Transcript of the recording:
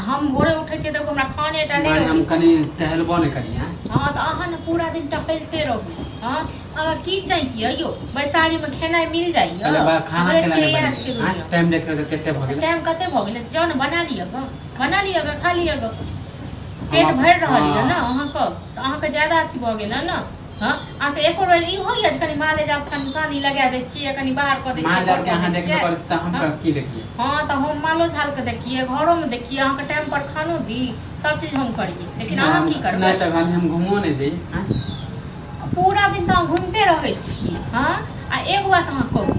हम भोरे उठै छियै तऽ हमरा खाने टा नहि हम कनि टहलबो नहि करियै हँ तऽ अहाँ ने पूरा दिन टहलते रहू हँ अगर की चाहिए यौ बैसारीमे खेनाइ मिल जाइए खाना खेनाइ टाइम देख कऽ कते भऽ गेलै टाइम कते भऽ गेलै जाउ ने बना लिअ गऽ बना लिअ गऽ खा लिअ गऽ पेट भरि रहल यऽ ने अहाँके तऽ अहाँके ज्यादा अथी भऽ गेल ने हँ अहाँके एको बेर ई होइए जे कनि माँ ले जाउ कनि सानी लगा दै छियै कनि बाहर कऽ दै माँ छियै जाके कऽ अहाँ दै देखबे छियै। करै छी तऽ हम हँ। की देखियै हँ तऽ हम मालो झालके देखियै घरोमे देखियै अहाँके टाइम पर खानो दी सब चीज हम करियै लेकिन अहाँ की करबै नहि तऽ खाली हम घुमो नहि दी आँय। पूरा दिन तऽ अहाँ घुमिते रहै छी हँ आ एगो बात अहाँ कहू